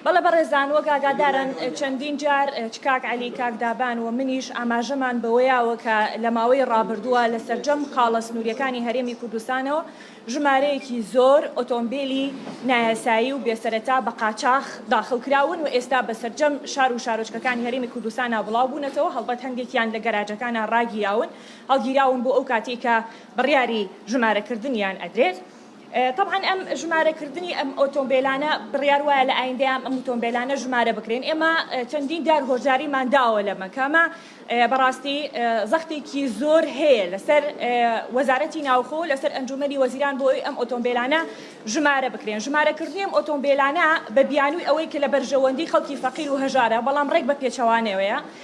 بەڵێ بەڕێزان وەک ئاگادارن چەندین جار چ کاک عەلی کاک دابان و منیش ئاماژەمان بەوەیاوە کە لە ماوەی ڕابردووە لە سەرجەم خاڵە سنووریەکانی هەرێمی کوردستانەوە ژمارەیەکی زۆر ئۆتۆمبیلی نایاسایی و بێسەرەتا بە قاچاخ داخڵ کراون و ئێستا بە سەرجەم شار و شارۆچکەکانی هەرێمی کوردستانا بڵاو بوونەتەوە هەڵبەت هەندێکیان لە گەراجەکانا ڕاگیراون هەڵگیراون بۆ ئەو کاتەی کە بڕیاری ژمارەکردنیان ئەدرێت تەبعەن ئەم ژمارەکردنی ئەم ئۆتۆمبێلانە بڕیار وایە لە ئایندەیان ئەم ئۆتۆمبێلانە ژمارە بکرێن ئێمە چەندین جار هۆشداریمان داوە لە مەکامە بەڕاستی زەختێکی زۆر هەیە لەسەر وەزارەتی ناوخۆ لەسەر ئەنجومەنی وەزیران بۆ ئەم ئۆتۆمبێلانە ژمارە بکرێن ژمارەکردنی ئەم ئۆتۆمبێلانە بە بیانووی ئەوەی کە لە بەرژەوەندی خەڵکی فەقیر و هەژارە بەڵام ڕێک بە پێچەوانەوەیە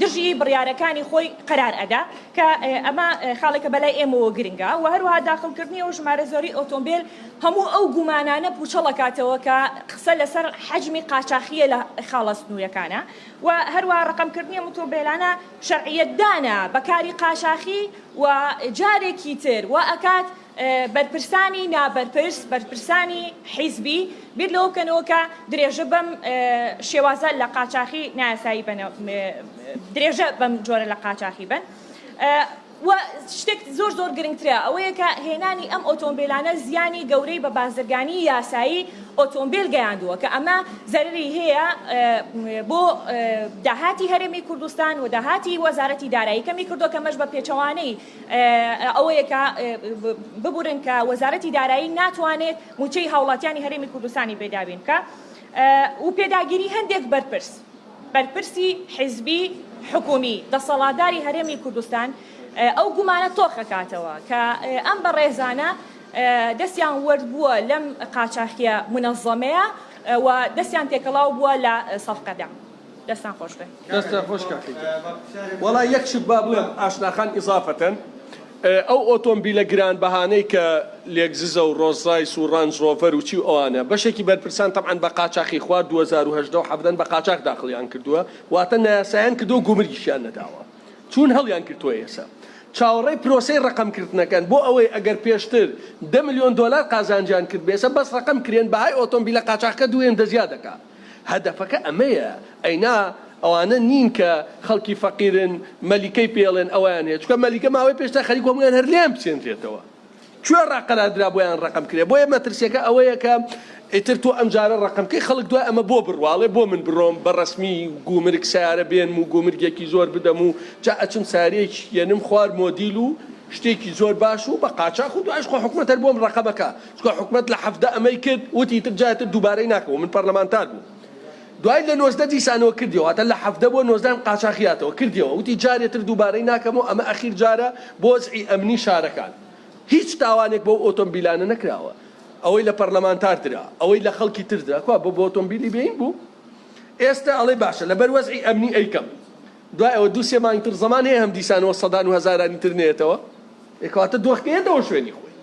دژی بڕیارەکانی خۆی قەرار ئەدا کە ئەمە خاڵێکە بەلای ئێمەوە گرنگە و هەروەها داخڵکردنی ئەو ژمارە زۆری ئۆتۆمبێل هەموو ئەو گومانانە پوچەڵ ئەکاتەوە کە قسە لەسەر حەجمی قاچاخییە لە خاڵە سنوورەکانە و هەروەها ڕەقەمکردنی ئەم ئۆتۆمبێلانە شەرعیەتدانە بە کاری قاچاخی و جارێکی تر وائەکات بەرپرسانی نابەرپرس، بەرپرسانی حیزبی بیر لەوە بکەنەوە کە درێژە بەم شێوازە لە قاچاخی نایاسایی بەن درێژە بەم جۆرە لە قاچاخی بەن. و شتێک زۆر زۆر گرنگترە ئەوەیە کە هێنانی ئەم ئۆتۆمبیلانە زیانی گەورەی بە بازرگانی یاسایی ئۆتۆمبیل گەیاندووە کە ئەمە زەرری هەیە بۆ داهاتی هەرێمی کوردستان و داهاتی وەزارەتی دارایی کەمی کردووە کەمەش بە پێچەوانەی ئەوەیە کە ببورن کە وەزارەتی دارایی ناتوانێت مووچەی هاوڵاتیانی هەرێمی کوردستانی بێ دابین بکا و پێداگیری هەندێک بەرپرس بەرپرسی حیزبی حکومی دەسەڵاتداری هەرێمی کوردستان ئەو گومانە تۆخەکاتەوە کە ئەم بەڕێزانە دەستیان وەرد بووە لەم قاچاخیە منەزەمەیە و دەستیان تێکەڵاو بووە لە سەفقەدا. دەستتان خۆش بێ. دەستتان خۆش کاکە گیان. وەڵا یەک شت با بڵێم ئاشنا خان ئیزافەتەن ئەو ئۆتۆمبیلە گران بەهانەی کە لێگززە و ڕۆز ڕایس و ڕانج ڕۆڤەر و چی و ئەوانە بەشێکی بەرپرسان تەبعەن بە قاچاخی خوار دوو هەزار و هەژدە و حەڤدەن بە قاچاخ داخڵیان کردووە واتە نایاسایان کردووە گومرگیشیان نەداوە چوون هەڵیان گرتووە ئێسە چاوەڕێی پرۆسەی ڕەقەم کردنەکەن بۆ ئەوەی ئەگەر پێشتر دە ملیۆن دۆلار قازانجیان کردبێسە بەس ڕەقەم کرێن بەهای ئۆتۆمبیلە قاچاخکە دوو هێندە زیاد دەکات. هەدەفەکە ئەمەیە ئەی نا ئەوانە نین کە خەڵکی فەقیرن مەلیکەی پێڵێن ئەوەیان هەیە چکە مەلیکە ماوەی پێشتا خەریک هەموویان هەر لێیان بچێنرێتەوە کوێ ڕاقەرادرا بۆیان ڕقم کرێ بۆیە مەترسیەکە ئەوەیە کە ئیتر تۆ ئەمجارە ڕقمکەی خەڵک دوای ئەمە بۆ بڕواڵێ بۆ من بڕۆم بە ڕسمی گومرگ سیارە بێنم و گومرگێکی زۆر بدەم و جا ئەچم ساریێک یەنم خوار مۆدیل و شتێکی زۆر باش و بە قاچاخ و دوایش خۆ حکومەتەر بۆم ڕقمەکە چونکە حکومەت لە حەڤدە ئەمەی کرد وتی ئیتر جاری تر دووبارەی ناکەم و من پەرلەمانتار بووم دوای لە نۆزدە دیسانەوە کردیەوە واتە لە حەڤدە بۆ نۆزدەم قاچاخی هاتەوە کردیەوە وتی جاری تر دووبارەی ناکەم و ئەمە ئەخیر جارە بۆ وەزعی ئەمنی شارەکان هیچ تاوانێک بەو ئۆتۆمبیلانە نەکراوە ئەوەی لە پەرلەمانتار درا ئەوەی لە خەڵکی تر درا کوا بۆ بۆ ئۆتۆمبیلی بێین بوو ئێستا ئەڵێ باشە لەبەر وەزعی ئەمنی ئەیکەم دوای ئەوە دوو سێ مانگ تر زەمان هەیە هەم دیسانەوە سەدان و هەزارانی تر نێتەوە ئێ کەواتە دۆخ نێتەوە شوێنی خۆی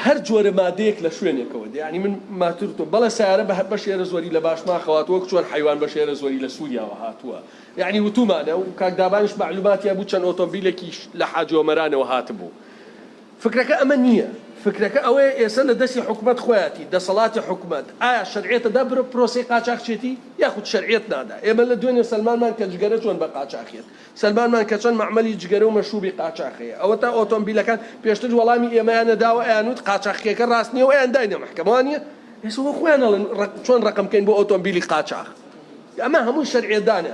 هەر جۆرە مادەیەک لە شوێنێکەوە دێ یانی من ماتور تۆ بەڵێ سارە بە بە شێرە زۆری لە باش ماخەوات وەک چۆن حیوان بە شێرە زۆری لە سووریاوە هاتووە یعنی وتومانە و کاک دابانش معلوماتیان بوو چەند ئۆتۆمبیلێکیش لە حاجۆمەرانەوە هاتبوو فکرەکە ئەمە نییە، فکرەکە ئەوەیە ئێسە لە دەسی حکومەت خۆیاتی، دەسەڵاتی حکومەت، ئایا شەرعیەت ئەدا بەرەو پرۆسەی قاچاخچێتی؟ یاخود شەرعیەت نادا؟ ئێمە لە دوێنێ سەلمانمان کە جگەرە چۆن بە قاچاخیەت، سەلمانمان کە چەند مەعمەلی جگەرە و مەشروبی قاچاخ هەیە، ئەوەتا ئۆتۆمبیلەکان، پێشتر وەڵامی ئێمەیان نەداوە ئەیان وت قاچاخیەکە راست نییە و ئەیان داینە مەحکەمە وانییە؟ ئێسە وەک خۆیان ئەڵێن چۆن رەقم کەین بۆ ئۆتۆمبیلی قاچاخ؟ ئەمە هەمووی شەرعیەتدانە.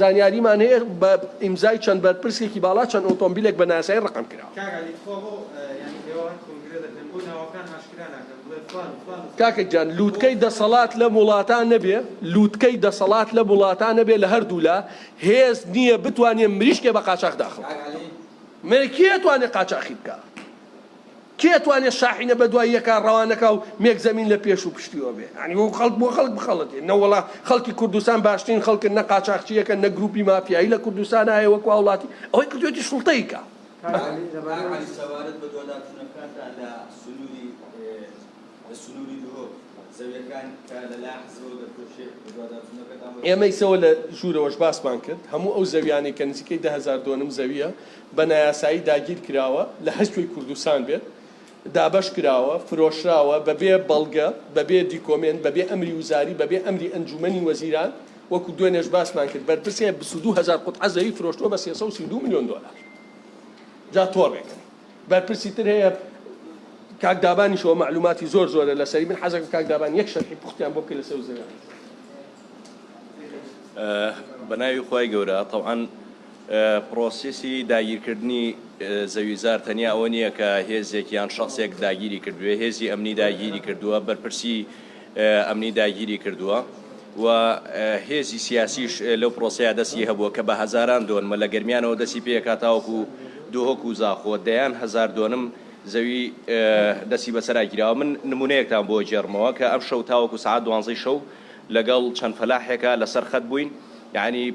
زانیاریمان هەیە بە ئیمزای چەند بەرپرسێکی باڵا چەند ئۆتۆمبیلێک بە نایاسایی ڕەقەم کرا. کاک عەلی تخوا بۆ یانی ئێوە هەر کۆنگرە دەکەن بۆ ناوەکان ئاشکرا ناکەن بڵێ فلان و فلان و فلان کاکە گیان لوتکەی دەسەڵات لەم وڵاتە نەبێ لوتکەی دەسەڵات لەم وڵاتە نەبێ لە هەردوو لا هێز نیە بتوانێ مریشکێ بە قاچاخ داخڵ کاک عەلی. مەیە کێ ئەتوانێ قاچاخی بکا. کێ ئەتوانێ شاحینە بەدوای یەکا ڕەوانەکا و مێک زەمین لە پێش و پشتیەوە بێ یانی وەکو خەڵک بۆ خەڵک بخەڵەتێ نەوەڵا خەڵکی کوردستان باشترین خەڵکن نە قاچاخچی یەکە نە گروپی مافیایی لە کوردستان هایە وەکو هاوڵاتی ئەوەی کردوێتی سوڵتەی کا. کاک عەلی لەبارەی ئەوەی سەبارەت بە دواداچونەکانتان لە سنوری لە سنوری دهۆک زەویەکان کە لە لایان حزبەوە دەفرۆشرێ بە دواداچونەکەتان بۆ چی؟ ئێمەی سەوە لە ژورەوەش باسمان کرد هەموو ئەو زەویانەی کە نزیکەی دە هەزار دۆنم زەویە بە نایاسایی داگیرکراوە لە هەرکوێی کوردستان بێت، دابەشکراوە، فرۆشراوە، بەبێ بەڵگە، بەبێ دیکۆمێنت، بەبێ ئەمری وزاری، بەبێ ئەمری ئەنجوومەنی وەزیران، وەکو دوێنێش باسمان کرد بەرپرسێ بیست و دوو هەزار قوتعە زەوی فرۆشتووە بە سێ سەد و سی و دوو ملیۆن دۆلار. جا تۆڕێکن بەرپرسی تر هەیە، کاک دابانیشەوە مەعلووماتی زۆر زۆرە لەسەری، من حەزەکەم کاک دابان یەک شەرحی پوختیان بۆ بکەی لەسەر و زەوییەکان. بەناوی خوای گەورە تەوعەن. پرۆسیسی داگیرکردنی زەویزار تەنیا ئەوە نییە کە هێزێک یان شەخسێک داگیری کردبێ، هێزی ئەمنی داگیری کردووە، بەرپرسی ئەمنی داگیری کردووە و هێزی سیاسیش لەو پرۆسەیە دەستی هەبووە کە بە هەزاران دۆنمە لە گەرمیانەوە دەستی پێکا تاوەکو دهۆک و زاخۆ دەیان هەزار دۆنم زەوی دەستی بەسەرا گیراوە. من نموونەیەکتان بۆ ئەگێڕمەوە کە ئەمشەو تاوەکو سەعات دوانزەی شەو لەگەڵ چەند فەلاحێکا لەسەر خەت بووین یانی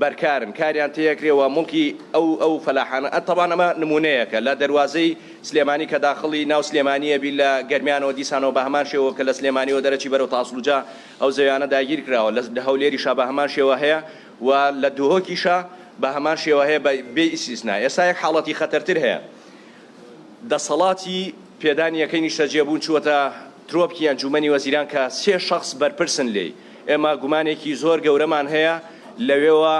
بەرکارن کاریان تێکرێ وە موڵکی ئەو ئەو فەلاحانە ئە تەبان ئەمە نمونەیەکە لە دەروازەی سلێمانی کە داخڵی ناو سلێمانی ئەبی لە گەرمیانەوە دیسانەوە بە هەمان شێوە کە لە سلێمانیەوە دەرەچی بەرەو تاسڵوجە ئەو زەویانە داگیر کراوە لە لە هەولێریشا بە هەمان شێوە هەیە و لە دهۆکیشا بە هەمان شێوە هەیە بە بێ ئیسیسنا ئێستا یەک حاڵەتی خەتەرتر هەیە دەسەڵاتی پێدانی یەکەی نیشتەجێبوون چووەتە ترۆپکی ئەنجوومەنی وەزیران کە سێ شەخس بەرپرسن لێی. ئێمە گومانێکی زۆر گەورەمان هەیە لەوێوە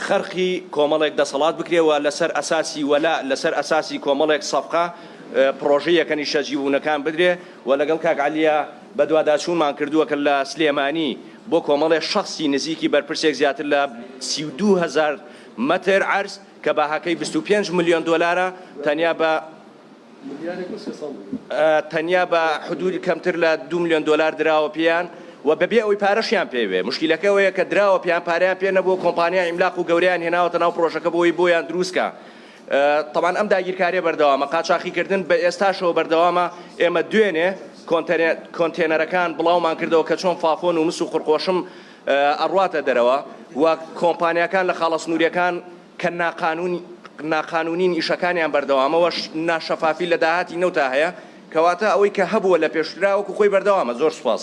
خەرقی کۆمەڵێک دەسەڵات بکرێ و لەسەر ئەساسی وەلا، لەسەر ئەساسی کۆمەڵێک سەفقە پڕۆژەی یەکە نیشتە جیبوونەکان بدرێ و لەگەڵ کاک عەلیە بەدواداچوونمان کردووە کە لە سلێمانی بۆ کۆمەڵێ شەخسی نزیکی بەرپرسێک زیاتر لە سی و دوو هەزار مەتر عەرز کە بەهاکەی بیست و پێنج ملیۆن دۆلارە تەنیا بە تەنیا بە حدوودی کەمتر لە دوو ملیۆن دۆلار دراوە پێیان و بەبێ ئەوەی پارەشیان پێوێ مشکلەکە ئەوەیە کە دراوە پێیان پاریان پێ نەبوو کۆمپانیا ئیملاق و گەوریان هێناوەتە ناو پرۆژەکە بۆی بۆیان دروستکە طبعاان ئەم داگیرکاریە بەردەوامە قاچاخیکردن بە ئێستاشەوە بەردەوامە ئێمە دوێنێ کۆنتێنەرەکان بڵاومان کردەوە کە چۆن فافۆن و مس و قڕقۆشم ئەڕاتە دەرەوە و کۆمپانیەکان لە خاڵە سنووریەکان کە ناقانوونیین ئیشەکانیان بەردەوامە و ناشەفافی لە داهاتی نەوتا هەیە، کەواتە ئەوەی کە هەبووە لە پێشترا وەکو خۆی بەردەوامە. زۆر سوپاس.